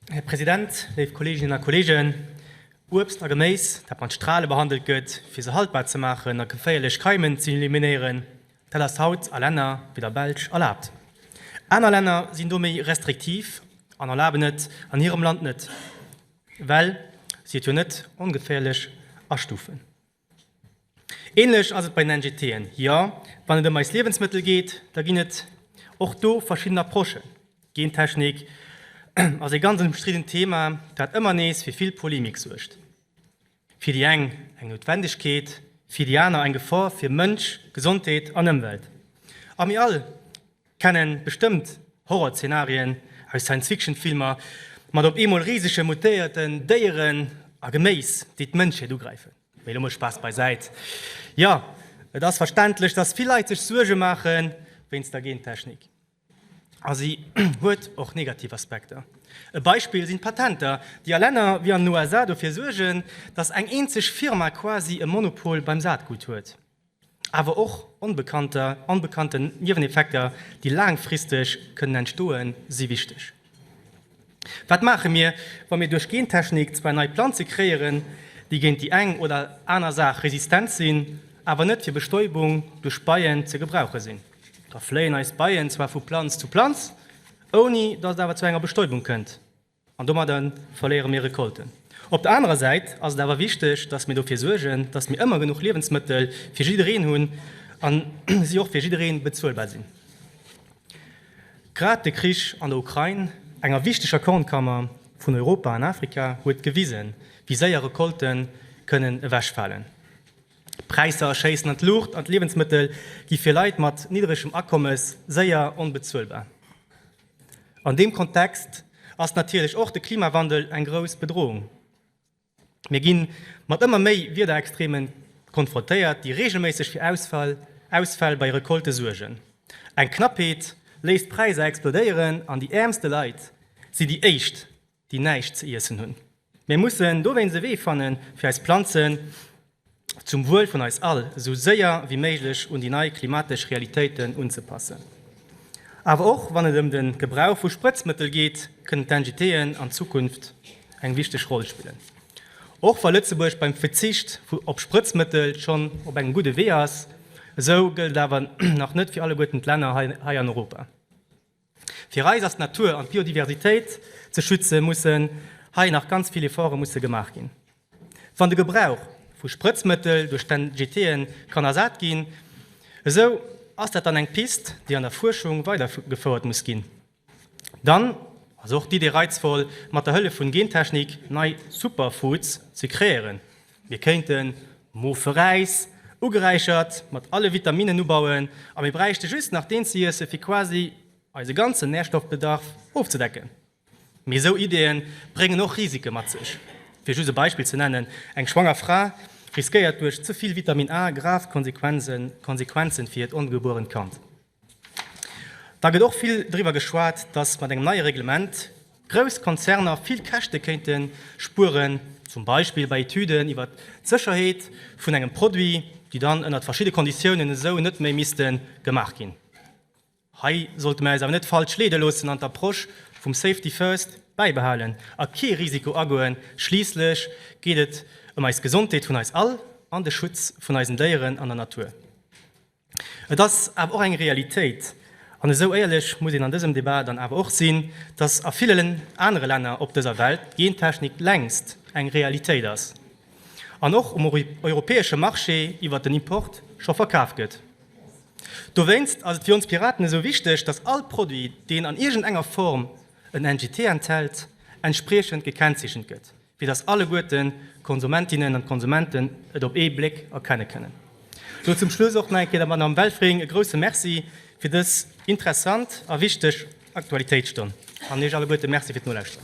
Här President, léif Kolleeginnen a Kolleegen, Uebst a Geméis, dat mat Strale behandelt gëtt, fir se haltbar ze maachen a geféierlech Keimen ze eliminéieren, dat ass haut a Länner wéi der Belsch erlaabt. Aner Länner sinn do méi restriktiv an erlaben et an hirem Land net, well si et jo net ongeféierlech astufen. Ähnlech ass et bei den NGTen. Jo, wann et ëm eis Liewensmëttel geet, da ginn et och do verschidden Approchen. Gentechnik ass ee ganz ëmstriddent Thema, dat ëmmer nees fir vill Polemik suergt. Fir déi eng eng Noutwendegkeet, fir déi aner eng Gefor fir Mënsch, Gesondheet an Ëmwelt. A mir all Kennen bestëmmt Horrorzeenarien aus Science-Fiction-Filmer mat op eemol risege mutéierten Déieren a Geméis, déi d'Mënschheet ugräifen. Mee elo mol Spaass beisäit. Jo, et ass verständlech, dass vill Leit sech Suerge maache wéinst der Gentechnik. A si huet och negativ Aspekter. E Beispill sinn d'Patenter, déi a Länner wéi an den USA dofir suergen, dass eng eenzeg Firma quasi e Monopol beim Saatgut huet. awer och onbekannter an bekannten Nieweneffekter, déi laangfristeg kënnen entstoen, si wichteg. Wat maache mir, wa mir duerch Gentechnik zwar nei Planze kreéieren, déi géint déi eng oder aner Saach resistent sinn, awer net fir Bestäubung duerch Beien ze gebrauche sinn? Da fléien eis Beien zwar vu Planz zu Planz, ouni datt et awer zu enger Bestäubung kënnt. An domadder verléiere mir Recolten. Op der anerer Säit ass et awer wichteg, dass mir dofir suergen, dass mir ëmmer genuch Liewensmëttel fir jiddereen hunn a si och fir jidderee bezuelbar sinn. Grad de Krich an der Ukrain, enger wichteger Kornkammer vun Europa an Afrika, huet gewisen, wéi séier Recolte kënnen ewechfalen. D'Präisser schéissen an d'Luucht an d'Liewensmëttel gi fir Leit mat niddregem Akommes séier onbezuelbar. An deem Kontext ass natierlech och de Klimawandel eng grouss Bedrohung. Mir gi mat ëmmer méi Wiederextreme konfrontéiert, déi reegelméisseg fir Ausfäll, Ausfäll bei Recolte suergen. Eng Knappheet léisst d'Präisser explodéieren an déi äermste Leit sinn déi éischt, déi näischt ze iessen hunn. Mir mussen dowéinst e Wee fannen, fir eis Planzen zum Wuel vun eis all esou séier wéi méiglech un déi nei klimatesch Realitéiten unzepassen. Awer och wann et ëm de Gebrauch vu Sprëtzmëttel geet, kënnen d'NGT'en an Zukunft eng wichteg Roll spillen. Och wa Lëtzebuerg beim Verzicht op Sprëtzmëttel schonn op engem gudde Wee ass, esou gëllt et awer nach net fir alleguerten d'Länner hei an Europa. Fir eis ass d'Natur an d'Biodiversitéit ze schützen, mussen hei nach ganz vill Efforte musse gemaach ginn. Wann de Gebrauch vu Sprëtzmëttel duerch d'NGT'e kann ersat ginn, esou ass dat dann eng Pist, déi an der Fuerschung weidergefouert muss ginn. Dann ass och d'Idee reizvoll, mat der Hëllef vun Gentechnik nei Superfoods ze kreéieren. Mir kéinten Moferäis, ugeräichert mat alle Vitaminnen, ubauen a mir bräichte just nach deen ze iesse fir quasi eise ganzen Närstoffbedarf ofzedecken. Mee esou Ideeë bréngen och Risike mat sech. Fir just e Beispill ze nennen, eng schwanger Fra riskéiert duerch ze vill Vitamin A grav Konsequenzen, Konsequenzen fir hiert ongebuerent Kand. Da gëtt och vill driwwer geschwat, dass mat engem neie Reglement grouss Konzerner vill Käschte kéinte spueren, zum Beispill bei Etüden iwwer d'Sécherheet vun engem Produit, déi dann ënnert verschidde Konditiounen esou net méi misste gemaach ginn. Hei sollte mir eis awer net falsch leede loossen an d'Approche vum Safety first bäibehalen a kee Risiko agoen. Schliisslech geet et ëm eis Gesondheet vun eis all an de Schutz vun eisen Déieren an der Natur. Et ass awer och eng Realitéit, an esou éierlech muss een an dësem Debat dann awer och sinn, dass a villen anere Länner op dëser Welt d'Gentechnik längst eng Realitéit ass an och um europäesche Marché iwwert den Import scho verkaf gëtt. Dowéinst ass et fir ons Piraten esou wichteg, dass all Produit, deen an iergendenger Form en NGT enthält, entspriechend gekennzeechent gëtt. fir dass alleguerten, d'Konsumentinnen an d'Konsumenten, et op ee Bléck erkenne kënnen. Elo zum Schluss och nach eng Kéier der Madame Welfring e grouse Merci fir dës interessant a wichteg Aktualitéitsstonn an Iech alleguerte Merci fir d'Nolauschteren.